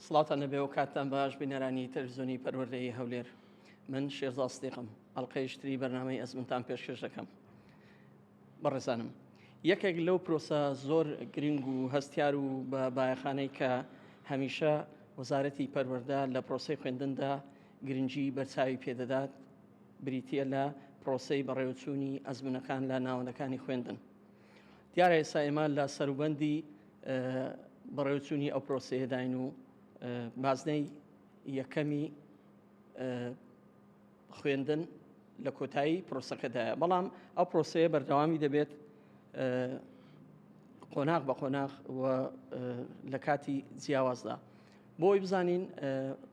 سڵاتان نەبێ و کاتتان باش بینەرانی تەلزۆنی پەروەردەی هەولێر من شێزاستێقم ئەڵلقەیشتری بەرنمەی ئەزمنتان پێشکەش دەکەم بەڕێزانم یەکێک لەو پرۆسە زۆر گرنگ و هەستیار و بە بایەخانەی کە هەمیشە وەزارەتی پەروەەردە لە پرۆسی خوێندندا گرنگی بەرچاوی پێدەدات بریتییە لە پرۆسەی بەڕێوەچوونی ئەزمونەکان لە ناوەندەکانی خوێندن دیارە ئێستا ئێمە لە سەروبەندی بەڕێوچوونی ئەو پرۆسەیەداین و بازنەی یەکەمی خوێندن لە کۆتایی پرۆسەکەدایە بەڵام ئەو پرۆسەیە بەردەوامی دەبێت قۆناغ بە قۆناغ و لە کاتی جیاوازدا بۆی بزانین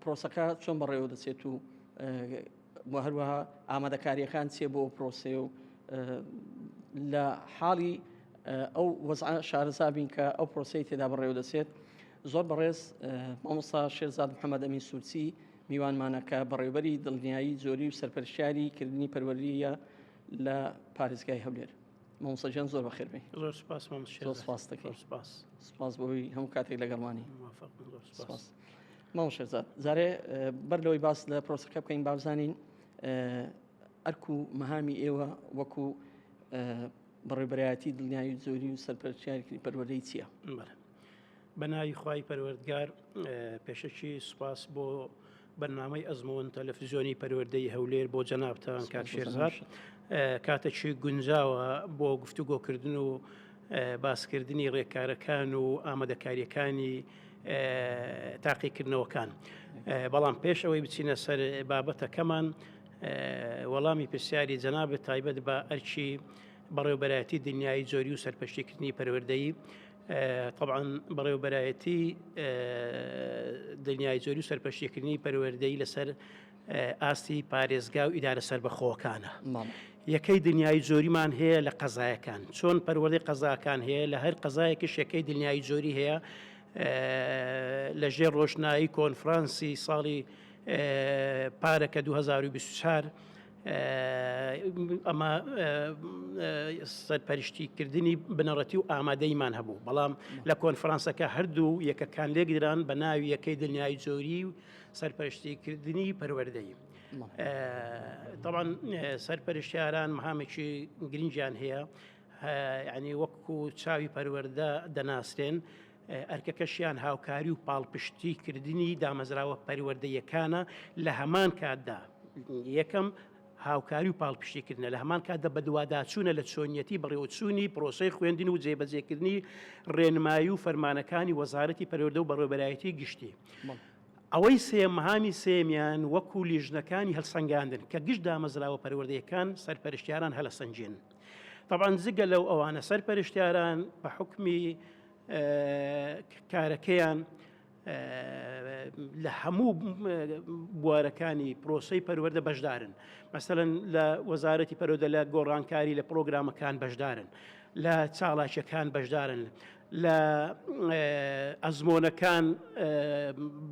پرۆسەکە چۆن بەڕێوە دەچێت و هەروەها ئامادەکاریەکان چێ بۆ پرۆسێ و لە حاڵی ئەو وەزع شارەزابین کە ئەو پرۆسی تێدا بەڕێوە دەچێت زۆر بەڕێز مامۆستا شێرزاد محەممەد ئەمین سوورچی میوانمانەکە بەڕێوبەری دڵنیایی زۆری و سەرپەرشاری کردنی پەروەریە لە پارێزگای هەولێر مامۆسەجان زۆر بەخێربێ زۆر سپاس مامۆسپاستەکە سپاس سپاس بۆی هەموو کاتێک لەگەڵمانی سپاس ماو شەزات زارێ بەر لەوەی باس لە پرۆسەکە بکەین بابزانین ئەرک و مەهامی ئێوە وەکو بەڕێبەرایەتی دڵنیایی زۆری و سەرپەرچیارکی پەروەدەی چییە بەناوی خی پەروەردگار پێشەکی سوپاس بۆ بەرنامەی ئەزموون تەلەفزیۆنی پەروەردەی هەولێر بۆ جەنابتان کاک شێرزاد کاتەکی گونجاوە بۆ گفتوگۆکردن و باسکردنی ڕێکارەکان و ئامادەکاریەکانی تاقیکردنەوەکان بەڵام پێش ئەوەی بچینە سەر بابەتەکەمان وەڵامی پرسیاری جەنابێت تایبەت بە ئەرچی بەڕێوبەرایەتی دنیای جۆری و سەرپەشتیکردنی پەروەردەی تەبعەن بەڕێوەبەرایەتی دنیای جۆری و سەرپەشیکردنی پەروەردەی لەسەر ئاستی پارێزگا و ئیدارە سربەخۆکانە یەکەی دنیای جۆریمان هەیە لە قەزایەکان چۆن پەروەردەی قەزاکان هەیە لە هەر قەزایەکی شەکەی دنیای جۆری هەیە لە ژێر ڕۆشنایی کۆنفرانسی ساڵی پارەکە 2024 ئەمە سەرپەرشتی کردنی بنەڕەتی و ئامادەیمان هەبوو بەڵام لە کۆنفرانسەکە هەردوو یەکەکان لێکدران بە ناوی یەکەی دنیای جۆری و سەرپەرشتیکردنی پەروەردەی تاوان سەرپەرشتیاران مهامێکی گرنگیان هەیە ینی وەکو چاوی پەروەەردە دەناسرێن ئەرکەکەشیان هاوکاری و پاڵپشتی کردنی دامەزراوە پەروەردەییەکانە لە هەمان کاتدا یەکەم هاوکاری و پاڵپشتی کردنە لە هەمان کاتدا بەدواداچوونە لە چۆنیەتی بەڕێوەچوونی پرۆسەی خوێندن و جێبەجێکردنی ڕێنمایی و فەرمانەکانی وەزارەتی پەروەردە و بەڕێوەبەرایەتی گشتی. ئەوەی سێم مەهامی سێمیان وەکو لیژنەکانی هەلسەنگاندن کە گشت دامەزراوە پەروەردەیەکان سەرپەرشتیاران هەلەسەنجێن طبعا جگە لەو ئەوانە سەرپەرشتیاران بە حکمی کارەکەیان لە هەموو بوارەکانی پرۆسی پەروەەردە بەشدارن مەسەن لە وەزارەتی پەرۆدە لە گۆڕانکاری لە پرۆگرامەکان بەشدارن لە چاڵاکیەکان بەشدارن لە ئەزمۆنەکان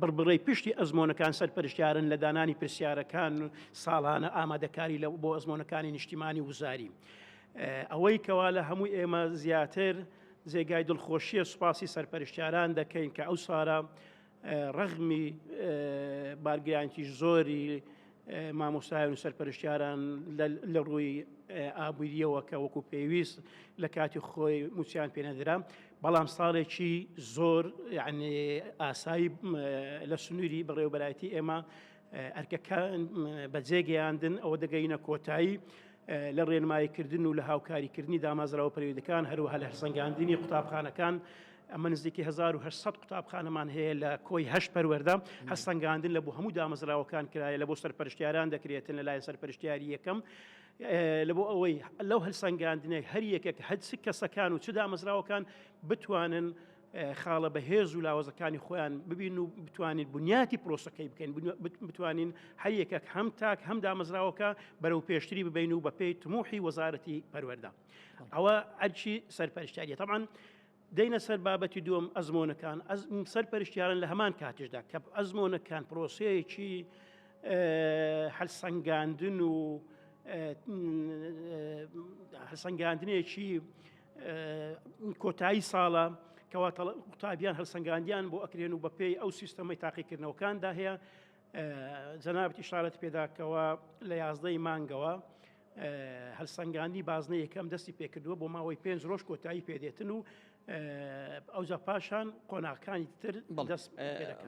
بڕبڕی پشتی ئەزمۆنەکان سەرپەرشتیارن لە دانانی پرسیارەکان و ساڵانە ئامادەکاری لە بۆ ئەزمۆنەکانی نیشتیمانی وزاری. ئەوەی کەوا لە هەموو ئێمە زیاتر جێگای دڵخۆشیە سوپاسی سەرپەرشتیاران دەکەین کە ئەو سارە ڕەغمی بارگرانکی زۆری مامۆستایان و سەرپەرشتیاران لە ڕووی ئابووریەوە کە وەکو پێویست لە کاتی خۆی موچیان پێنەدرا بەڵام ساڵێکی زۆر یعنی ئاسایی لە سنووری بەڕێوبەرایەتی ئێمە ئەرکەکان بەجێگەیاندن ئەوە دەگەینە کۆتایی لە ڕێنماییکردن و لە هاوکاریکردنی دامازراوە پەرویدەکان هەروەها لە هەرسەنگاندنی قوتابخانەکان ئەمە نزیکی 1970 قوتابخانەمان هەیە لە کۆی هەش پەروەەردە هەستەنگاندن لە بۆ هەموو دامەزراوەکان کرایە لە بۆ سەرپەرشتیاران دەکرێتن لە لایەن سەرپەرشتیاری یەکەم لە بۆ ئەوەی لەو هەلسەنگاندنەی هەر یەکێک هەچ کەسەکان و چ دامەزراوەکان بتوانن خاڵە بە هێز و لاوەزەکانی خۆیان ببین و بتوانین بنیاتی پرۆسەکەی بکەین بتوانین هەریەکەک هەم تاک هەم دامەزراوەکە بەرەو پێشتری ببین و بە پێی تموحی وەزارەتی پەروەەردە ئەوە ئەرچی سەرپەرشتیاریە تەمان دەینە سەر بابەتی دوم ئەزمۆنەکان سەر پەرشتیارن لە هەمان کاتیشدا کە ئەزمۆنەکان پرۆسەیەکی هەلسەنگاندن و هەسەنگاندنێکی کۆتایی ساڵە کەوا قوتابیان هەلسەنگاندیان بۆ ئەکرێن و بەپێی ئەو سیستەمەی تاقیکردنەوەکاندا هەیە جەنابەتی شارەت پێداکەوە لە یازدەی مانگەوە هەلسەنگانی بازنە یەکەم دەستی پێکردووە بۆ ماوەی پێنج ڕۆژ کۆتایی پێدێتن و ئەوجا پاشان قۆناغەکانی تر دەست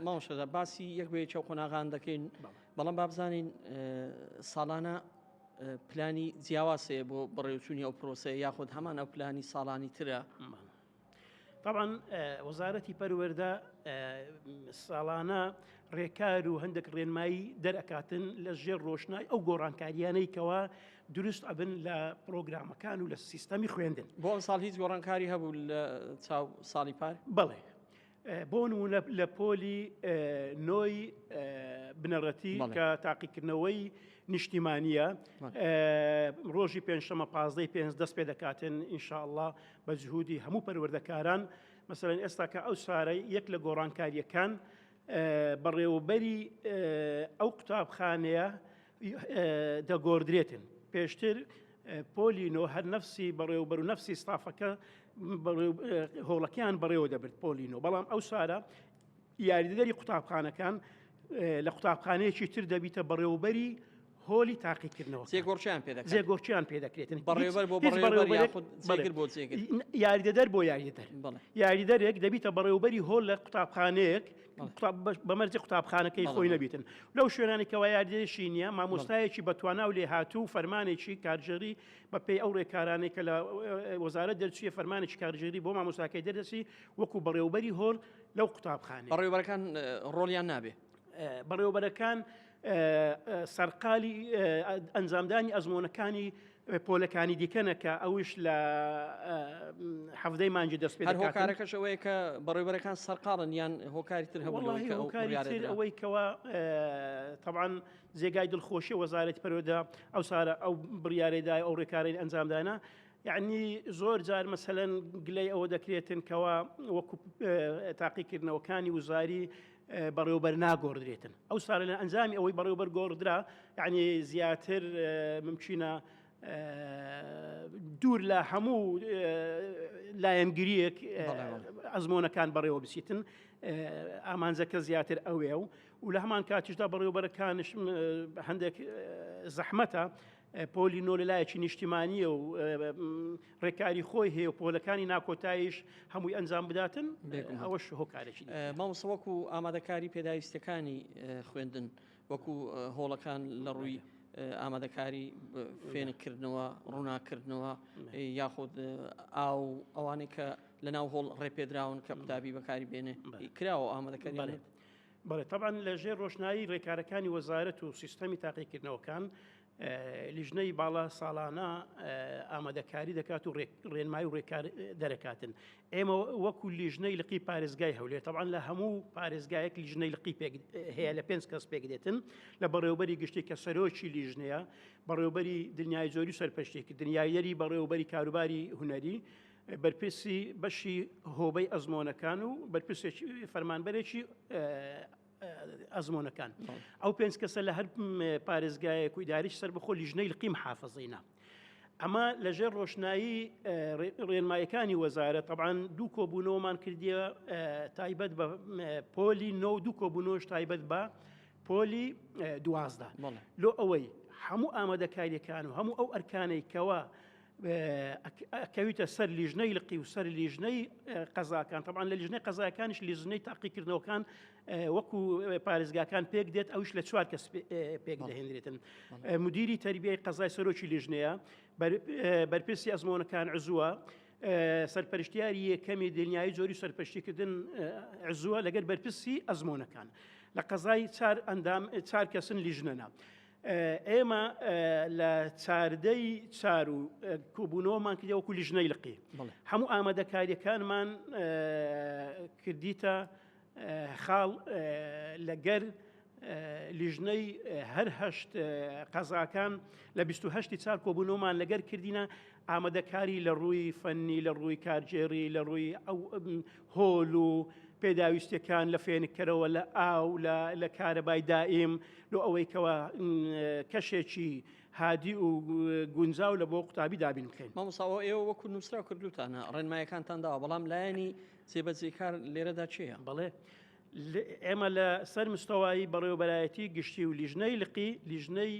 ماوەشەدا باسی یەک بێ چاو قۆناغان دەکەین بەڵام بابزانین ساڵانە پلانی جیاواز هەیە بۆ بەڕێوچوونی ئەو پرۆسەیە یاخود هەمان ئەو پلانی ساڵانی ترە؟ طبعا وەزارەتی پەروەردە ساڵانە ڕێکار و هەندێک ڕێنمایی دەرەکاتن لە ژێر ڕۆشنای ئەو گۆڕانکاریانەی کەوا دروست ئەبن لە پرۆگرامەکان و لە سیستەمی خوێندن بۆ ساڵ هیچ گۆڕانکاری هەبوو لە چاو ساڵی پار بڵێ بۆ نموونە لە پۆلی نۆی بنەڕەتی کە تاقیکردنەوەی نیشتیمانیە ڕۆژی پێنجشەمە پازدەی پێنج دەست پێ دەکاتێن ئینشاءله بە جهودی هەموو پەروەردەکاران مەسەرەن ئێستا کە ئەو سارەی یەک لە گۆڕانکاریەکان بەڕێوەبەری ئەو قوتابخانەیە دەگۆردرێتن پێشتر پۆلی نۆ هەر نفسی بەڕێوبەر و نفسی ستافەکە هۆڵەکەیان بەڕێوە دەبرد پۆلینۆ بەڵام ئەو سارە یاریدەری قوتابخانەکان لە قوتابخانەیەکی تر دەبیتە بەڕێوبەری هۆلی تاقیکردنەوە زێگۆرچیان پێ زێگۆرچیان پێ دەکرێتن بەڕێوبەر بۆ یاریدەدەر بۆ یاریدەر یاریدەرێک دەبیتە بەڕێوبەری هۆل لە قوتابخانەیەک بە مەرجی قوتابخانەکەی خۆی نەبیتن لەو شوێنانی کەوا یاردێشی نییە مامۆستایەکی بەتوانا و لێ هاتوو و فەرمانێکی کارژێری بە پێی ئەو ڕێکارانەی کە لە وەزارە دەرچیە فەرمانێکی کارژێری بۆ مامۆستاکەی دەردەسی وەکو بەڕێوبەری هۆر لەو قوتابخانە بەڕێوبەرەکان ڕۆلیان نابێ بەڕێوبەرەکان سەرقالی ئەنجامدانی ئەزمۆنەکانی پۆلەکانی دیکەنەکە ئەوش لە حەفدەی مانجی دەست پێ هۆکارەکەش ئەوەیە کە بەڕێبەرەکان سەرقاڵن یان هۆکاری تر هەمووکاری ئەوەی کەەوە طبعاان جێگای دڵخۆشی وەزارەت پەرۆدا ئەو سارە ئەو بڕارێدا ئەو ڕێکارەی ئەنجامدانە یعنی زۆر جار مەسەەن گلەی ئەوە دەکرێتن کەەوە وەکو تاقیکردنەوەکانی وزاری بەڕێوبەر ناگۆڕدرێتن ئەو ساە لە ئەنجامی ئەوەی بەڕێوبەر گۆڕدرا یعنی زیاتر ممچینە دوور لە هەموو لایەنگریەک ئەزمۆنەکان بەڕێوە بچیتن ئامانجەکە زیاتر ئەوێ و و لە هەمان کاتیشدا بەڕێوبەرەکانش هەندێک زەحمەتە پۆلی نۆ لە لایەکی نیشتیمانیە و ڕێکاری خۆی هەیە و پۆلەکانی ناکۆتاییش هەمووی ئەنجام بداتن بێگومان. ئەوەش هۆکارێکی دیکە. ئە، مامۆستا وەکو ئامادەکاری پێداویستیەکانی خوێندن وەکو ئە، هۆڵەکان لە ڕووی ئە، ئامادەکاری ب، فێنککردنەوە، ڕووناککردنەوە ئە، یاخود ئە، ئاو و ئەوانەی کە لەناو هۆڵ ڕێپێدراون کە قوتابی بەکاری بێنێ بەلێ. کراوە ئامادەکاریان؟ بەلێ. بەڵێ تەبان لە ژێر ڕۆشنایی ڕێکارەکانی وەزارەت و سیستەمی تاقیکردنەوەکان لیژنەی باڵا ساڵانە ئامادەکاری دەکات و ڕێنمای و ڕێکار دەرەکاتن ئێمە وەکو لیژنەی لقی پارێزگای هەولێر تەوان لە هەموو پارێزگایەک لیژنەی لقی پێک هەیە لە پێنج کەس پێک دێتن لە بەڕێوبەری گشتی کە سەرۆکی لیژنەیە بەڕێوبەری دنیای زۆری سەرپەشتێکی دنیایەری بەڕێوبەری کاروباری هوەری بەرپرسی بەشی هۆبەی ئەزمۆنەکان و بەرپرسێکی فەرمانبەرێکی ئەزمۆنەکان ئەو پێنج کەسە لە هەر پارێزگایەک و داریش سەر بخۆ لیژنەی قیم حافظینە. ئەمە لەژێر ڕۆشنایی ڕێنمایەکانی وەزارە تەبان دوو کۆبوونەوەمان کردیە تایبەت بە پۆلی نۆ دوو کۆبوونەوەش تایبەت بە پۆلی دوازدا لۆ ئەوەی هەموو ئامادەکاریەکان و هەموو ئەو ئەرکانەی کەەوە کەویتە سەر لیژنەی لقی و سەر لیژنەی قەزاکان تەبان لە لیژنەی قەزایەکانش لیژنەی تاقیکردنەوەکان وەکو پارێزگاکان پێک دێت ئەوش لە چوار کەس پێک دەهێنرێتن مدیری تربیەی قەزای سەرۆکی لیژنەیە بەرپرسی ئەزمۆنەکان عزووە سەرپەرشتیاری یەکەمی دنیای جۆری سەرپەشتیکردن عزووە لەگەر بەرپرسی ئەزمۆنەکان لە قەزای چار ئەندام چار کەسن لیژنەنا. ئێمە لە چاردەی چار و کۆبوونەوەمان کردی وەکو لیژنەی لقی هەموو ئامادەکاریەکانمان کردیتە خاڵ لەگەر لیژنەی هەرهشت قەزاکان لە 28 چار کۆبوونەوەمان لەگەر کردینە ئامادەکاری لە ڕووی فەنی، لە ڕووی کارگێڕی، لە ڕووی ئەو هۆل و پێداویستیەکان لە فێنککەرەوە، لە ئاو، لە کارەبای دائیم، لۆ ئەوەی کەوا کەشێکی هادی و گونجاو لە بۆ قوتابی دابین بکەین. مامۆستا ئەوە ئێوە وەکو نووسرا کردوتانە ڕێنمایەکانتان داوە، بەڵام لایەنی جێبەجێکار لێرەدا چێە؟ بەڵێ. ئێمە لە سەر مستەوایی بەڕێوەبەرایەتی گشتی و لیژنەی لقی لیژنەی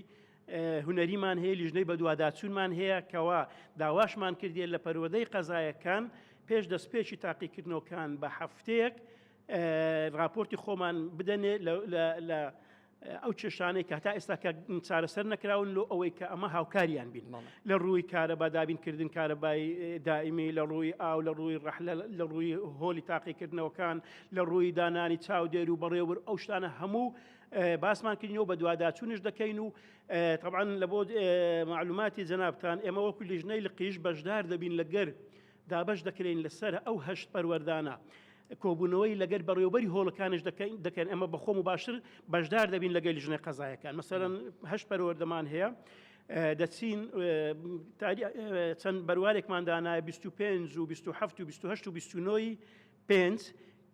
هونەریمان هەیە لیژنەی بەدواداچوونمان هەیە کەوا داواشمان کردێ لە پەروەدەی قەزایەکان پێش دەستپێکی تاقیکردنەوەکان بە هەفتەیەک راپۆرتی خۆمان بدەنێ لە ئەو کێشانەی کە تا ئێستا کە چارەسەر نەکراون لۆ ئەوەی کە ئەمە هاوکاریان بین لە ڕووی کارە بە دابینکردن کارەبای دائمی لە ڕووی ئاو لە ڕووی ڕەحلە لە ڕووی هۆلی تاقیکردنەوەکان لە ڕووی دانانی چاودێر و بەڕێوبر ئەو شتانە هەموو باسمان کردنەوە بە دوواداچوونش دەکەین و طبعاان لە بۆ معلوماتی جەنابان ئێمە وەکو لیژنەی لقیش بەشدار دەبین لەگەر دابش دەکرین لەسەر ئەو هەشت پەروەردانە. کۆبوونەوەی لەگەر بەڕێوبەری هۆڵەکانش دەکەین دەکەن ئەمە بەخۆم و باشتر بەشدار دەبین لەگەل ژنە قەزایەکان مەسەرەن هەشت پەروەردەمان هەیە. دەچین چەند بەروارێکمان دانایە 25 و 27 و 28 و 29 پێنج،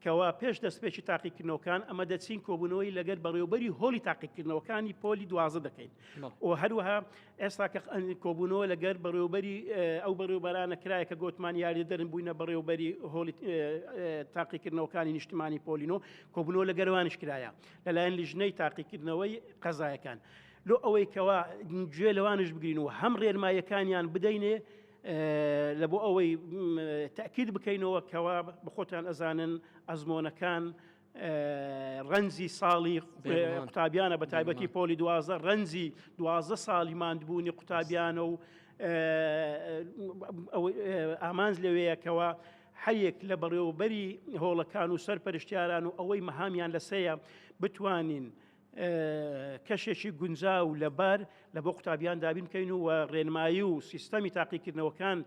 کەوا پێش دەستپێکی تاقیکردنەوەکان ئەمە دەچین کۆبوونەوەی لەگەر بەڕێوبەری هۆڵی تاقیکردنەوەکانی پۆلی دوازە دەکەین و هەروەها ئێستا کە کۆبوونەوە لەگەر بەڕێوبەری ئەو بەڕێوبەرانە کرایە کە گۆتمان یاری دەرن بووینە بەڕێوبەری هۆڵی تاقیکردنەوەکانی نیشتمانی پۆلینۆ کۆبوونەوە لە گەروانش کرایە لەلایەن لیژنەی تاقیکردنەوەی قەزایەکان لۆ ئەوەی کەوا گوێ لەوانش بگرین و هەم ڕێنمایەکانیان بدەینێ لە بۆ ئەوەی تاکیید بکەینەوە کەوا بەخۆتان ئەزانن ئەزمۆنەکان ڕەنجی ساڵی قوتابیانە بە تایبەتی پۆلی دوازە ڕەنجی دوازە ساڵی ماندبوونی قوتابیانە و ئامانج لەوەیەکەوە حەیەک لە بەڕێوەبەری هۆڵەکان و سەر پەرشتیاران و ئەوەی مەهامیان لەسەیە بتوانین کەشێکی گونجاو و لەبار لە بۆ قوتابیان دابین بکەین و ڕێنمایی و سیستەمی تاقیکردنەوەکان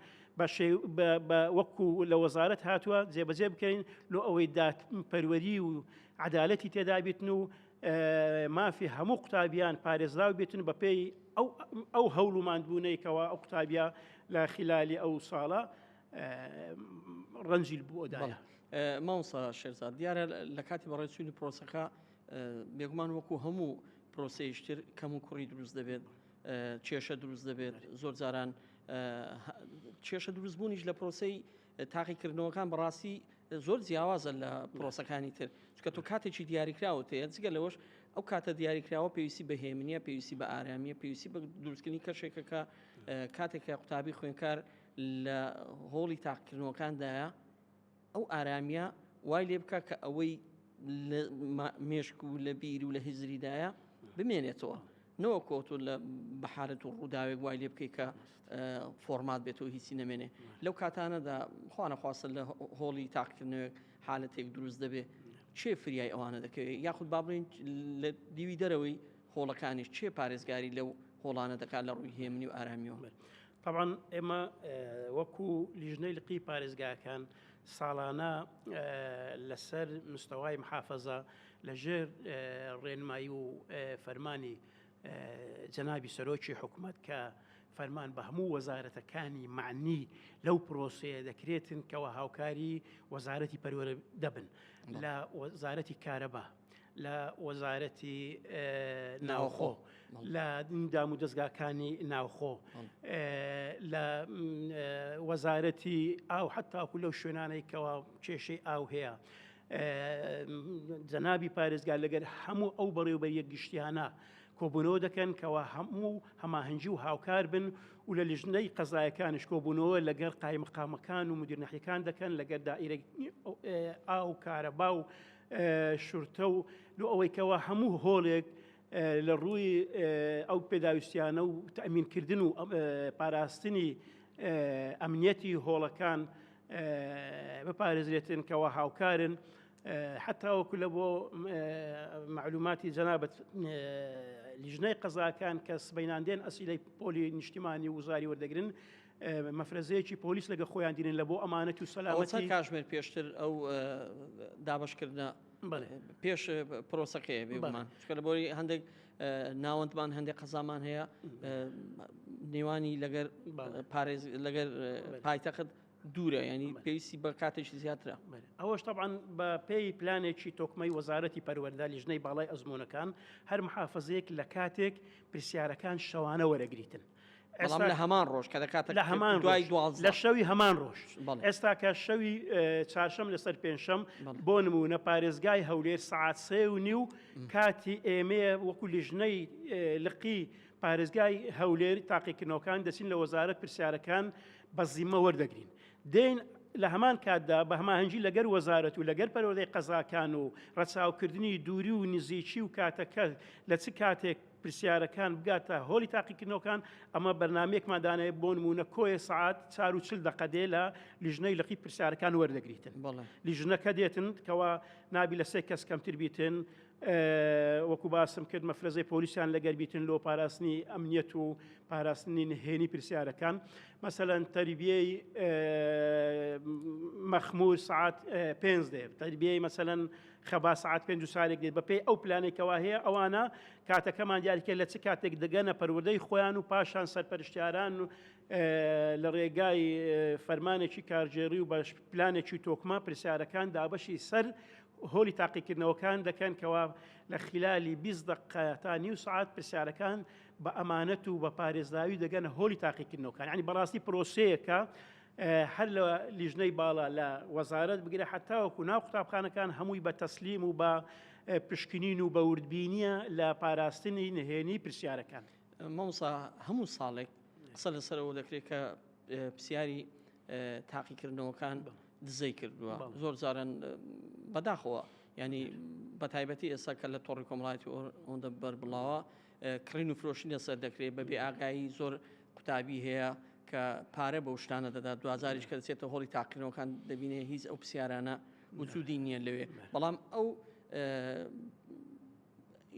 وەکو لە وەزارەت هاتووە جێبەجێ بکەین لۆ ئەوەی دات پەروەری و عدالەتی تێدابیتن و مافی هەموو قوتابیان پارێزراو بێتن بە پێی ئەو هەوڵ و ماندبوونەیەکەوە ئەو قوتابیا لە خلالی ئەو ساڵە ڕەنجیل بووەدایە ماوسا شێرزاد دیارە لە کاتی بەڕێچووی پرۆسەکە بێگومان وەکو هەموو پرۆسەیشتر کەم و کوڕی دروست دەبێت کێشە دروست دەبێت زۆر جاران کێشە دروستبوونیش لە پرۆسی تاقیکردنەوەکان بەڕاستی زۆر جیاوازە لە پرۆسەکانی تر چکە تۆ کاتێکی دیاریکراوە تەیە جگە لەوەش ئەو کاتە دیاریکراوە پێویستی بە هێمنە پێویستی بە ئارامیە پێویستی بە دروستکردنی کەشێکەکە کاتێکە قوتابی خوێنکار لە هۆڵی تاقکردنەوەکاندایە ئەو ئارامییە وای لێ بکا کە ئەوەی لە مێشک و لە بیر و لە هزریدایە بمێنێتەوە نەوەکۆ تۆ لە بەحالت و ڕووداوێک وای لێ بکەیت کە فۆرمات بێتەوە هیچی نەمێنێ لەو کاتانەدا خوانەخواستە لە هۆڵی تاقکردنەوەک حالەتێک دروست دەبێ چێ فریای ئەوانە دەکەوێت یاخود بابلین لە دیوی دەرەوەی هۆڵەکانیش کێ پارێزگاری لەو هۆڵانە دەکات لە ڕووی هێمنی و ئارامیەوە طبعاان ئێمە وەکو لیژنەی لقی پارێزگاکان ساڵانە لەسەر مستەوای محافەزە لە ژێر ڕێنمایی و فەرمانی جەنابی سەرۆکی حکوومەت کە فەرمان بە هەموو وەزارەتەکانی معنی لەو پرۆسەیە دەکرێتن کەەوە هاوکاری وەزارەتی پەروەرە دەبن لە وەزارەتی کارەبا لە وەزارەتی ناوخۆ لە دام و دەستگاکانی ناوخۆ لە وەزارەتی ئاو حتاکو لەو شوێنانەی کەوا کێشەی ئاو هەیە. جەنابی پارێزگار لەگەر هەموو ئەو بەڕێوبەر یەک گشتیانە کۆبوونەوە دەکەن کەوا هەموو و هەماهنگجی و هاوکار بن و لە لیژنەی قەزایەکانش کۆبوونەوە لەگەر قایمقامەکان و مدیرنەحیەکان دەکەن لەگەر دائیرە ئاو کارەبا و شورتە و لۆ ئەوەی کەوا هەموو هۆڵێک لە ڕووی ئەو پێداویستیانە و تەمینکردن و پاراستنی ئەمنیەتی هۆڵەکان بپارێزرێتن کەەوە هاوکارن حتاوەکو لە بۆ معلوماتی جەنابەت لیژنەی قەزاکان کە سبیناندێن ئەسیلەی پۆلی نیشتیمانی وزاری وەردەگرن مەفرەزەیەکی پۆلیس لەگە خۆیان دینن لە بۆ ئەمانەت و سەلامەتی کاشمێر پێشتر ئەو دابشکردە پێش پرۆسەکەی بێمان چکە لە بۆی هەندێک ناوەندمان هەندێک قەزامان هەیە نێوانی لەگەر پارێز لەگەر پایتەخت دوورە ینی پێویستی بە کاتێکی زیاترە ئەوەش تەعاان بە پێی پلانێکی تۆکمەی وەزارەتی پەروەەردا لیژنەی باڵای ئەزمونونەکان هەر محافزەیەک لە کاتێک پرسیارەکان شەوانە وەرەگریتن بەڵام لە هەمان ڕۆژ کە دەکاتە لە هەمان دوای لە شەوی هەمان ڕۆژ ئێستا کە شەوی چاشەم لەسەر پێنجشەم بۆ نمونە پارێزگای هەولێر سعات سێ و نی و کاتی ئێمەیە وەکو لیژنەی لقی پارێزگای هەولێر تاقیکردنەوەکان دەچین لە وەزارەت پرسیارەکان بە زیمە وەردەگرین دێن لە هەمان کاتدا بە هەماهنگگی لەگەر وەزارەت و لەگەر پەرۆدەی قەزاکان و ڕەچاوکردنی دووری و نزیکی و کاتەکە لە چ کاتێک پرسیارەکان بگاتە هۆڵی تاقیکردنەوەکان، ئەمە بەرنامەیەکمان داناوە بۆ نموونە کۆیە سەعات چار و چل دەقە دێ لە لیژنەی لقی پرسیارەکان وەردەگریتن بەڵێ. لیژنەکە دێتن کەوا نابی لە سێ کەس کەمتر بیتن ئه، وەکو باسم کرد مەفرەزەی پۆلیسیان لەگەر بیتن لۆ پاراستنی ئەمنیەت و پاراستنی نهێنی پرسیارەکان مەسەلەن تەریبیەی ئه، مەخمور سەعات ئه، پێنج دێ تەریبیەی مەسەلەن خەبات سەعات پێنج و چارێک دێت بەپێی ئەو پلانێک کەوا هەیە ئەوانە کاتەکەمان دیاریکە لە چ کاتێک دەگەنە پەروەردەی خۆیان و پاشان سەرپەرشتیاران و لە ڕێگای فەرمانێکی کارگێڕی و بەش پلانێکی تۆکمە پرسیارەکان دابەشی سەر هۆلی تاقیکردنەوەکان دەکەن کەوا لە خلالی 20 دقە تا نیو سعات پرسیارەکان بە ئەمانەت و بە پارێزراوی دەگەنە هۆلی تاقیکردنەوەکان ینی بەڕاستی پرۆسەیەکە هەر لە لیژنەی باڵا لە وەزارەت بگرە حتاوەکو ناو قوتابخانەکان هەمووی بە تەسلیم و بە پشکنین و بەوردبینیە لە پاراستنی نهێنی پرسیارەکان مامۆسا هەموو ساڵێک قسە لەسەرەوە دەکرێت کە پرسیاری تاقیکردنەوەکان دزەی کردووە زۆر جارن بەداخەوە ینی بە تایبەتی ئێستا کە لە تۆڕی کۆمەڵایەتی ئەوەندە بەربڵاوە کڕین و فرۆشین لەسەر دەکرێت بە بێ ئاگایی زۆر قوتابی هەیە کە پارە بەو شتانە دەدات دوازاریش کە دەچێتە هۆڵی تاقیرنەوەکان دەبینێ هیچ ئەو پرسیارانە وجودی نییە لەوێ بەڵام ئەو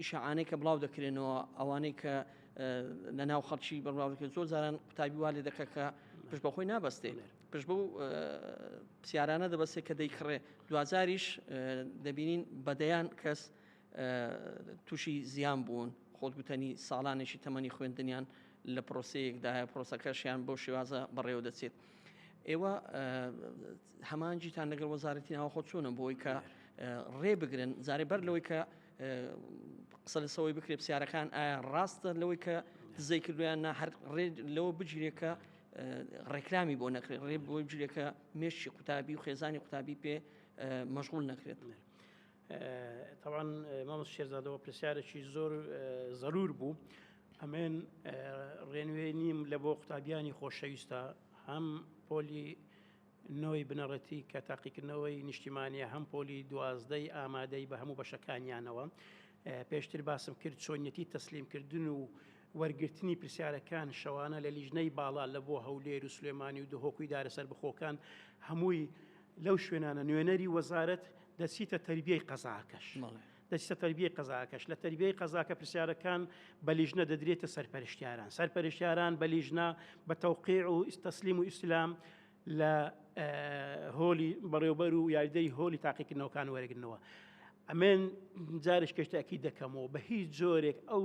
ئیشعانەی کە بڵاو دەکرێنەوە ئەوانەی کە لە ناو خەڵکی بەڵاوکە زۆر زاران قوتابی وا لێ دەکە کە پشت بە خۆی نابەستێ پشت بە پرسیارانە دەبەستێ کە دەیکڕێ دوازاریش دەبینین بەدەیان کەس تووشی زیان بوون، خۆت گوتەنی ساڵانێکی تەمەنی خوێندنیان لە پرۆسەیەکدایە، پرۆسەکەشیان بەو شێوازە بەڕێوە دەچێت. ئێوە هەمانجیتان لەگەڵ وەزارەتی ناوەخۆ چۆنە بۆی کە ڕێ بگرن زارێ بەر لەوەی کە قسە لەسەوەی بکرێت پرسیارەکان ئایا ڕاستە لەوەی کە دزەی کردویان نا هەر ڕێ لەوە بگیرێکە ڕێکلامی بۆ نەکرێت ڕێ بۆی بگیرێکە مێشی قوتابی و خێزانی قوتابی پێ مەشغول نەکرێت. تەوان مامۆس شێرزادەوە پرسیارێکی زۆر زەرور بوو ئەمێن ڕێنوێ نیم لە بۆ قوتابیانی خۆشەویستە هەم پۆلی نەوەی بنەڕەتی کە تاقیکردنەوەی نیشتیمانە هەم پۆلی دوازدەی ئامادەی بە هەموو بەشەکانیانەوە پێشتر باسم کرد چۆنیەتی تەسلیمکردن و وەرگرتنی پرسیارەکان شەوانە لە لیژنەی باڵا لە بۆ هەولێر و سلێمانی و دهۆکوی دارە سەر بخۆکان هەمووی لەو شوێنانە نوێنەری وەزارەت دەچیتە تەربیەی قەزاکەش. دەچتە تەربیەی قەزاکەش لە تەربیەی قەزاکە پرسیارەکان بە لیژنە دەدرێتە سەرپەرشتیاران سەرپەرشتیاران بە لیژنە بە تەوقیع و ئیستەسلیم و ئیسلام لە هۆلی بەڕێوبەر و یاریدەری هۆلی تاقیکردنەوەکان وەرەگرنەوە ئەمێن جارش کەشتەکی دەکەمەوە بە هیچ جۆرێک ئەو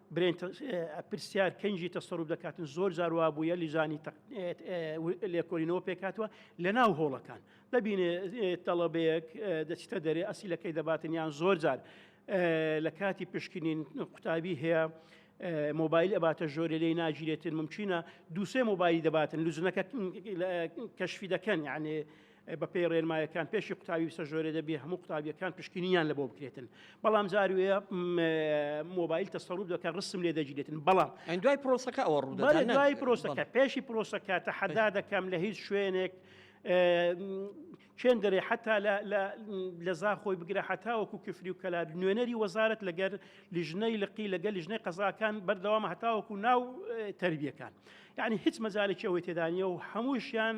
برێن پرسیار کەنجی تەسەڕوب دەکاتن زۆر جار وا بووە لیژانی لێکۆلینەوە پێکاتوە لە ناو هۆڵەکان دەبینێ تەڵەبەیەک دەچتە دەرێ ئەسیلەکەی دەباتن یان زۆر جار لە کاتی پشکنین قوتابی هەیە مۆبایل ئەباتە ژۆرە لێ ناگیرێتن ممچینە دووسێ مۆبایلی دەباتن لوجنەکە کەشفی دەکەن یانێ بەپێی ڕێنمایەکان پێشی قوتابی بسە ژۆرێ دەبێ هەموو قوتابیەکان پشکنینیان لە بۆ بکرێتن بەڵام جاروێ مۆبایل تەسەڵوب دەکە ڕسم لێ دەگیرێتن بەڵام دوای پرۆسەکە ئەوە ڕوو دوای پرۆسەکە پێشی پرۆسەکە تەحەدا دەکەم لە هیچ شوێنێک چێن دەرێ حتا لە زاخۆی بگرە حتاوەکو کفری و کەلار نوێنەری وەزارت لەگەر لیژنەی لقی لەگەل لیژنەی قەزاکان بەردەوام هەتاوەکو ناو تربیەکان یعنی هیچ مەزارێکی ئەوەی تێدانە و هەمووشیان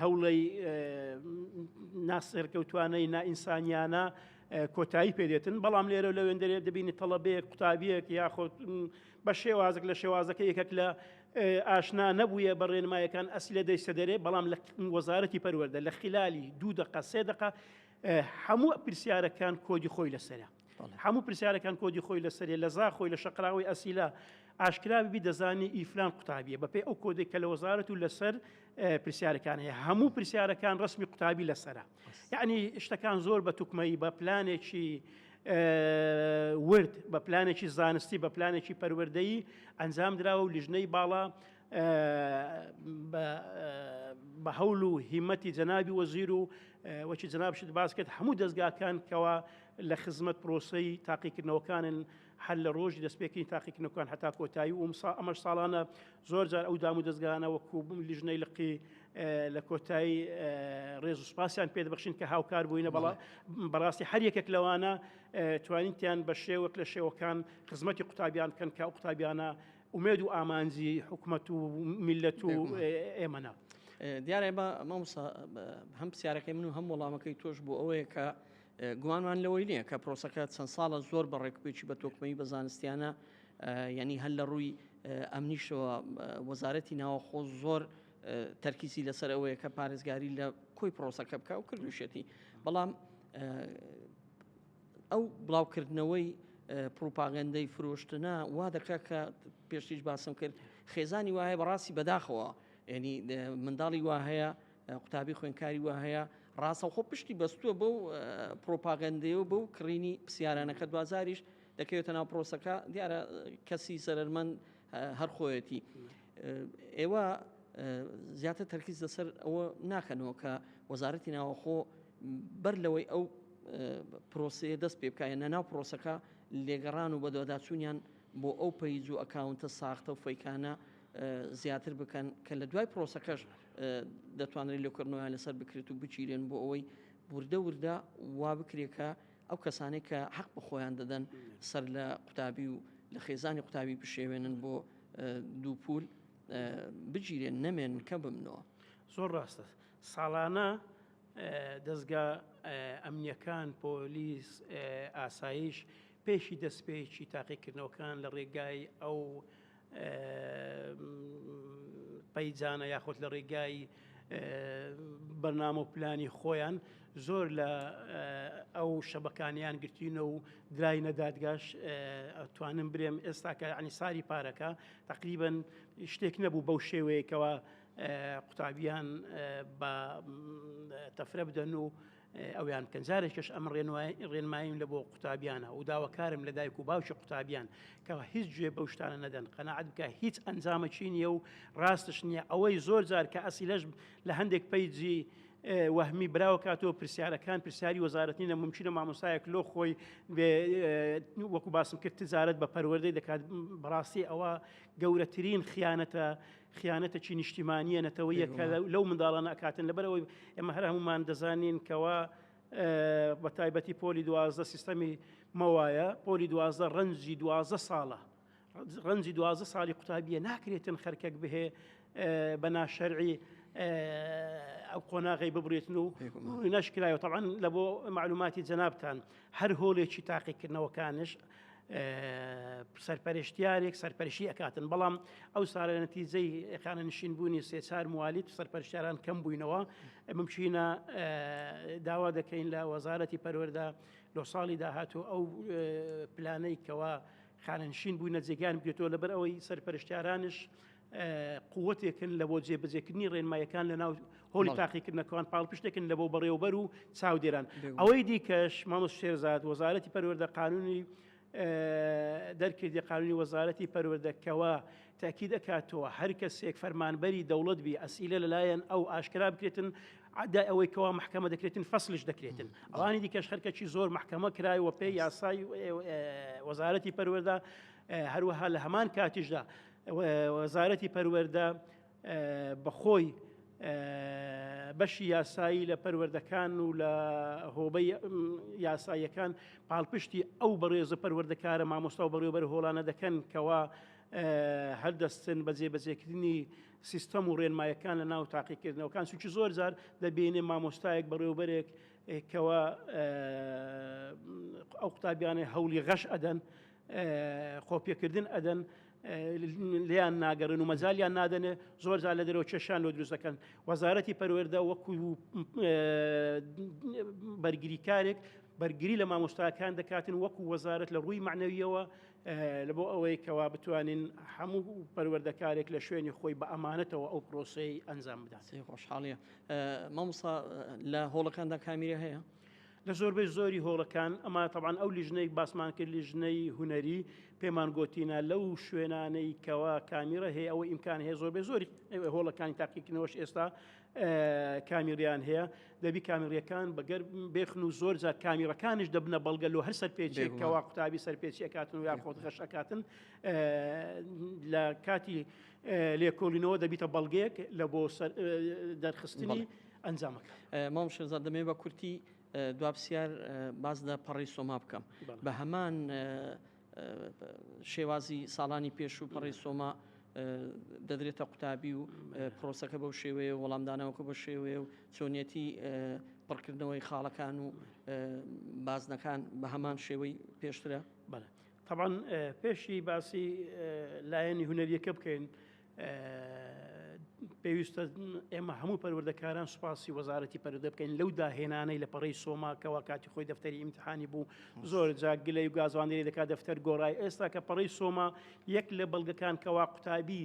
هەوڵی ناسەرکەوتوانەی نائینسانیانە کۆتایی پێدێتن بەڵام لێرە لە وێندەرێ دەبینی تەڵەبەیەک قوتابیەک یاخود بە شێوازێک لە شێوازەکە یەکێک لە ئاشنا نەبووە بە ڕێنمایەکان ئەسلێ دەیسە دەرێ بەڵام لە وەزارەتی پەروەەردە لە خلالی دوو دقە سێ دقە هەموو پرسیارەکان کۆدی خۆی لەسەرە هەموو پرسیارەکان کۆدی خۆی لەسەرێ لە زا خۆی لە شەقراوی ئەسیلا ئاشکراوی دەزانی ئیفلان قوتابیە بەپێ ئەو کۆدێک کە لە وەزارەت و لەسەر پرسیارەکان هەیە هەموو پرسیارەکان ڕسمی قوتابی لەسرە یعنی شتەکان زۆر بە توکمەی بە پلانێکی ورد بە پلانێکی زانستی بە پلانێکی پەروەردەیی ئەنجام درراوە و لیژنەی باڵا بە هەول و هیمەتی جەنابی وەزیر و وەکی جنابشت باس کرد هەموو دەستگاکان کەەوە لە خزمەت پرۆسی تاقیکردنەوەکانن هەر لە ڕۆژی دەستپێکردنی تاقیکردنەکان هەتا کۆتایی و ئەمسا ئەمەش ساڵانە زۆر جار ئەو دام و دەستگانە وەکو بووم لیژنەی لقی لە کۆتایی ڕێز و سپاسیان پێ دەبخشین کە هاوکار بووینە بەڵا بەڕاستی هەر یەکێک لەوانە توانیتیان بە شێوەک لە شێوەکان خزمەتی قوتابیان بکەن کە قوتابیانە ئومێد و ئامانجی حکومەت و میلەت و ئێمەە. دیارە بە مامسا هەم پرسیارەکەی من و هەم وەڵامەکەی تۆش بۆ ئەوەیە کە گومانمان لەوەی نییە کە پرۆسەکە چەند ساڵە زۆر بە ڕێکپێکی بە تۆکمەی بە زانستیانە ینی هەل لە ڕووی ئەمنیشەوە وەزارەتی ناوەخۆ زۆر تەرکیزی لەسەر ئەوەیە کە پارێزگاری لە کۆی پرۆسەکە بکە و کردوشێتی بەڵام ئەو بڵاوکردنەوەی پڕوپاگەندەی فرۆشتنە وا دەکات کە پێشتیش باسم کرد خێزانی وایە بەڕاستی بەداخەوە ینی منداڵی وا هەیە قوتابی خوێنکاری وا هەیە ڕاستەخۆ پشتی بەستووە بەو پرۆپاگەندەیە و بەو کڕینی پرسیارانەکە دوازاریش دەکەوێتە ناو پرۆسەکە دیارە کەسی سەرمەند هەر خۆیەتی ئێوە زیاتر تەرکیز لەسەر ئەوە ناکەنەوە کە وەزارەتی ناوەخۆ بەر لەوەی ئەو پرۆسەیە دەست پێ بکایە نە ناو پرۆسەکە لێگەڕان و بەدواداچوونیان بۆ ئەو پەیج و ئەکاونتە ساختە و فەیکانە زیاتر بکەن کە لە دوای پرۆسەکەش دەتوانرێت لێکردنەوەیان لەسەر بکرێت و بچیرێن بۆ ئەوەی وردە وردە وا بکرێکە ئەو کەسانەی کە حەق بە خۆیان دەدەن سەر لە قوتابی و لە خێزانی قوتابی بشێوێنن بۆ دوو پول بگیرێن نەمێن کە بمنەوە زۆر ڕاستە ساڵانە دەستگا ئەمنیەکان پۆلیس ئاسایش پێشی دەستپێکی تاقیکردنەوەکان لە ڕێگای ئەو پەیجانە یاخود لە ڕێگای بەرنامە و پلانی خۆیان زۆر لە ئەو شەبەکانیان گرتینە و درای نەدادگاش ئەتوانم برێم ئێستاکە عنی ساری پارەکە تقریبن شتێک نەبوو بەو شێوەیەکەوە قوتابیان بە تەفرە بدەن و ئەویان بکەن جارێکش ئەم ڕێنماییم لە بۆ قوتابیانە و داواکارم لە دایک و باوکی قوتابیان کەەوە هیچ گوێ بەو شتانە نەدەن قەنەعات بکە هیچ ئەنجامەکی نییە و ڕاستش نییە ئەوەی زۆر جار کە ئەسیلەش لە هەندێک پەیجی وەهمی براوە کاتەوە پرسیارەکان پرسیاری وەزارەتنی نە ممکنە مامۆسایەک لۆ خۆی وەکو باسم کرد تجارت بە پەروەردەی دەکات بەڕاستی ئەوە گەورەترین خیانەتە خیانەتەکی نیشتیمانیە نەتەوەیە کە لەو منداڵانە ئەکاتن لەبەرەوەی ئێمە هەر هەمومان دەزانین کەوا بە تایبەتی پۆلی دوازدە سیستەمی مەوایە پۆلی دوازدە ڕەنجی دوازدە ساڵە ڕەنجی دوازدە ساڵی قوتابیە ناکرێتن خەرکەک بهێ بە ناشەرعی ئەو قۆناغی ببرێتن و نشکرایەوە تاوان لە بۆ معلوماتی جەنابان هەر هۆلێکی تاقیکردنەوەکانش سەرپەرشتیارێک سەرپەرشی ئەکاتن بەڵام ئەو سارە نەتیجەی خانە نشین بوونی سێچار موالیت و سەرپەرشتیاران کەم بووینەوە ممچینە داوا دەکەین لە وەزارەتی پەروەەردا لۆ ساڵی داهاتوو ئەو پلانەی کەەوە خانەنشین بووینە جێگان بێتەوە لەبەر ئەوەی سەرپەرشتیارانش قوتێکن لە بۆ جێبەجێکردنی ڕێنمایەکان لە ناو هۆڵی تاقیکردنەکەوان پاڵپشتێکن لە بۆ بەڕێوبەر و چاودێران ئەوەی دیکەش مامۆس شێرزاد وەزارەتی پەروەردە قانونی دەرکردی قانونی وەزارەتی پەروەردەکەوە تاکی دەکاتەوە هەر کەسێک فەرمانبەری دەوڵەت بی ئەسیلە لەلایەن ئەو ئاشکرا بکرێتن عدا ئەوەی کەوا محکەمە دەکرێتن فەسلش دەکرێتن ئەوانی دیکەش خەرکەکی زۆر محکەمە کرای وە پێ یاسای وەزارەتی پەروەدا هەروەها لە هەمان کاتیشدا وەزارەتی پەروەردە بەخۆی بەشی یاسایی لە پەروەردەکان و لە هۆبەی یاساییەکان پاڵپشتی ئەو بەڕێزە پەروەردەکارە مامۆستا و بەڕێوبەر هۆڵانە دەکەن کەوا هەردەستن بە جێبەجێکردنی سیستەم و ڕێنمایەکان لە ناو تاقیکردنەوەکان سوچی زۆر جار دەبینێ مامۆستایەک بەڕێوبەرێک کەوا ئەو قوتابیانە هەولی غەش ئەدەن قۆپیەکردن ئەدەن لیان ناگەڕن و مەزالیان نادەنێ زۆر زار لە دەرەوە کێشان لۆ دروست دەکەن وەزارەتی پەروەێردە وەکو بەرگریکارێک بەرگری لە مامۆستاکان دەکاتن وەکو وەزارت لە ڕووی معنەویەوە لە بۆ ئەوەی کەوا بتوانین هەموو پەروەردەکارێک لە شوێنی خۆی بە ئەمانەتەوە ئەو پرۆسی ئەنجام بدات خۆشحاڵە مامۆسا لە هۆڵەکاندا کامیرە هەیە لە زۆربەی زۆری هۆڵەکان ئەمە تەبان ئەو لیژنەی باسمان کرد لیژنەی هوەری پێمان گوتینە لەو شوێنانەی کەوا کامیرە هەیە ئەوە ئیمکان هەیە زۆربەی زۆری هۆڵەکانی تاقیکردنەوەش ئێستا کامیریان هەیە دەبی کامیریەکان بەگەر بێخن و زۆر جار کامیرەکانش دەبنە بەڵگە لۆ هەر سەرپێچێک کەوا قوتابی سەرپێچی ئەکاتن و یا خۆت غەش ئەکاتن لە کاتی لێکۆڵینەوە دەبیتە بەڵگەیەک لە بۆ دەرخستنی ئەنجامەکان. مام شێرزاد دەمەوێت بە کورتی دوا پرسیار باس لە پەڕەی سۆما بکەم بە هەمان شێوازی ساڵانی پێش و پەڕی سۆما دەدرێتە قوتابی و پرۆسەکە بەو شێوەیە وەڵامدانەوەکە بە شێوەیە و چۆنیەتی پڕکردنەوەی خاڵەکان و بازنەکان بە هەمان شێوەی پێشترە بەڵێ تەبان پێشی باسی لایەنی هوەریەکە بکەین پێویستە ئێمە هەموو پەروەردەکاران سوپاسی وەزارەتی پەرودە بکەین لەو داهێنانەی لە پەڕی سۆماکەەوە کاتی خۆی دەفتەری ئیمتحانی بوو زۆر جاک گلەی و گازواندری دەکات دەفتەر گۆڕای ئێستا کە پەڕی سۆما یەک لە بەڵگەکان کەوا قوتابی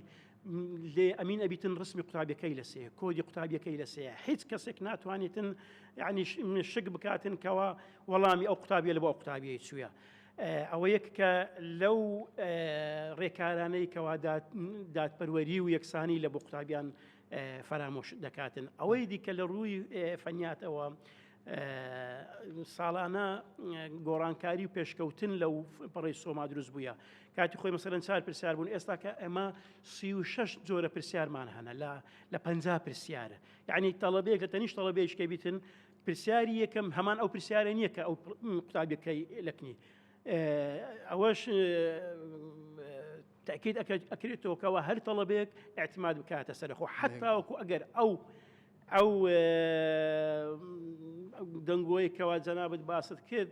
لێ ئەمین ئەبیتن ڕسمی قوتابیەکەی لەسێ کۆدی قوتابیەکەی لەسێ هیچ کەسێک ناتوانێتن ینی شک بکاتن کەەوە وەڵامی ئەو قوتابیە لە بۆ قوتابیەی چووە ئەوە یەککە لەو ڕێکارانەی کەوا دادپەروەری و یەکسانی لە بۆ قوتابیان فەرامۆش دەکاتن ئەوەی دیکە لە ڕووی فەنیاتەوە ساڵانە گۆڕانکاری و پێشکەوتن لەو پڕی سۆما دروست بووە کاتی خۆی مەسەرەن چار پرسیار بوون ئێستا کە ئەمە سی و شش جۆرە پرسیارمان هەنە لە لە پ پرسیارە یعنی تەڵەبێک لە تەنیش تەڵەبێشکە بیتن پرسیاری یەکەم هەمان ئەو پرسیارە نییە کە ئەو قوتابیەکەی لەکنی ئەوەش تاکیت ئەکرێتەوەکەەوە هەر تەڵەبێک اعتماد بکاتە سەرخۆ حتاوەکو ئەگەر ئەو ئەو دەنگۆی کەوا جەنابەت باست کرد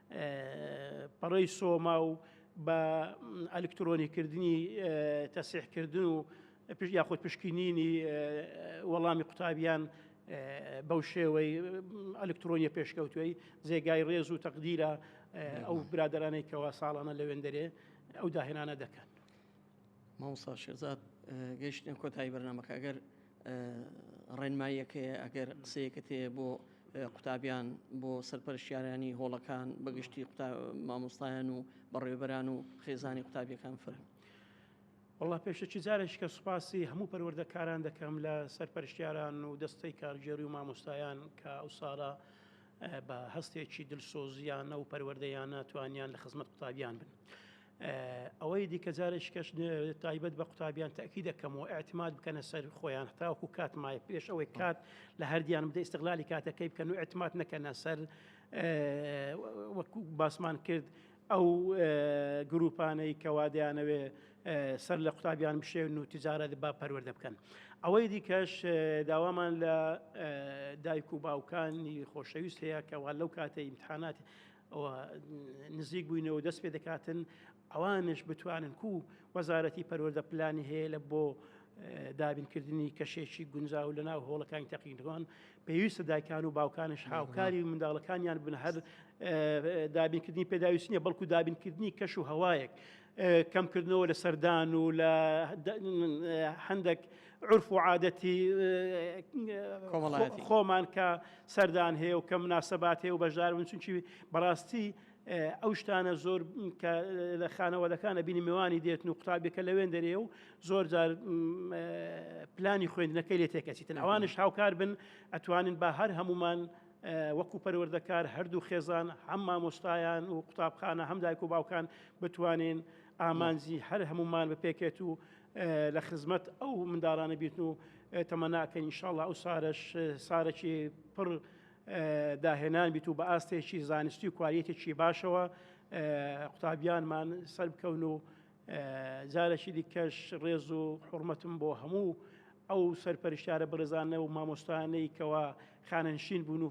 پەڕەی سۆما و بە ئەلکترۆنیکردنی تەسیحکردن و یاخود پشکنینی وەڵامی قوتابیان بەو شێوەی ئەلکترۆنیە پێشکەوتوی جێگای ڕێز و تەقدیرە ئەو برادرانەی کەوا ساڵانە لە وێندەرێ ئەو داهێنانە دەکەن مامۆسا شێزاد گەشتە کۆتایی بەرنمەکە ئەگەر ڕێنماییەکەیە ئەگەر قسەیەکت هەیە بۆ قوتابیان بۆ سەرپەرشیارانی هۆڵەکان بەگشتی مامۆستایان و بەڕێبەران و خێزانی قوتابیەکان فرن. وڵا پێشەکی جارێک کە سوپاسی هەموو پەروەردەکاران دەکەم لە سەر پەرشتیاران و دەستەی کارگێری و مامۆستایان کە ئەو ساڵە بە هەستێکی دلسۆزیانە و پەروەردەیانە توانیان لە خزمەت قوتابیان بن. ئەوەی دیکە جارێکی کەش تایبەت بە قوتابیان تاکی دەکەمەوە ئەعتماد بکەنە سەر خۆیان تاوکو کات مای پێش ئەوەی کات لە هەردیان بدە ئستغلالی کاتەکەی بکەن و ئەعتماد نەکەنە سەر وەکو باسمان کرد ئەو گروپانەی کەوادیانەوێ سەر لە قوتابیان بشێن و تجارەت با پەروەەردە بکەن ئەوەی دیکەش داوامان لە دایک و باوکانی خۆشەویست هەیە کەوا لەو کاتە ئیمتحانات ئەوە نزیک بووینەوە دەست پێ دەکاتن ئەوانش بتوانن کو وەزارەتی پەروەەردە پلانی هەیە لە بۆ دابینکردنی کەشێکی گونجاو لە ناو هۆڵەکانی تەقینەوەن پێویستە دایکان و باوکانش هاوکاری منداڵەکانیان بن هەر دابینکردنی پێداویستنیە بەڵکو دابینکردنی کەش و هەوایەک کەمکردنەوە لە سەردان و لە هەندێک عرف و عادەتی خۆمان کە سەردان هەیە و کە مناسەبات هەیە و بەشدار بن چونکی بەڕاستی ئەو شتانە زۆر کە لە خانەوەدەکانە بینی میوانی دێتن و قوتابیەکە لەوێن دەرێ و زۆر جار پلانی خوێندنەکەی لێ تێکەچیتن ئەوانش هاوکار بن ئەتوانن بە هەر هەمومان وەکو پەروەردەکار هەردوو خێزان هەم مامۆستایان و قوتابخانە هەم دایک و باوکان بتوانین ئامانجی هەر هەمومان بپێکێت و لە خزمەت ئەو منداڵانە بیتن و تەمەناکەین انشاءاللە ئەو سارەش سارەکی پڕ داهێنان بیت و بە ئاستێکی زانستی و کوالیتێکی باشەوە قوتابیانمان سەر بکەون و جارەکی دیکەش ڕێز و حڕمەتم بۆ هەموو ئەو سەرپەرشتارە بەڕێزانە و مامۆستانەی کەوا خانەنشین بوون و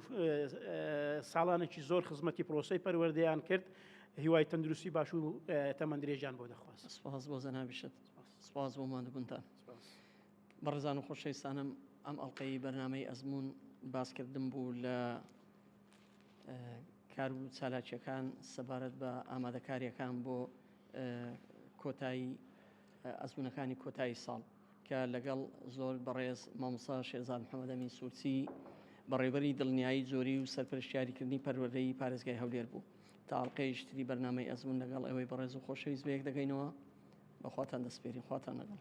ساڵانێکی زۆر خزمەتی پرۆسی پەروەردەیان کرد هیوای تەندروستی باش و تەمەند درێژیان بۆ دەخواست سپاس بۆ زەنابیشت سپاس بۆ مادەبوونتان بەڕێزان و خۆشەویستانم ئەم ئەڵلقەی بەرنمەی ئەزمون باسکردن بوو لە کار و چالاکیەکان سەبارەت بە ئامادەکاریەکان بۆ کۆتایی ئەزمونەکانی کۆتایی ساڵ کە لەگەڵ زۆر بەڕێز مامۆستا شێرزاد محەمەد ئەمین سورچی بەڕێوبەری دڵنیایی جۆری و سەرپەرشتیاریکردنی پەروەردەی پارێزگای هەولێر بوو تا ئەڵقەیەکی تری بەرنامەی ئەزمون لەگەڵ ئێوەی بەڕێز و خۆشەویست بەیەک دەگەینەوە بەخواتان دەسپێرین خواتان لەگەڵ.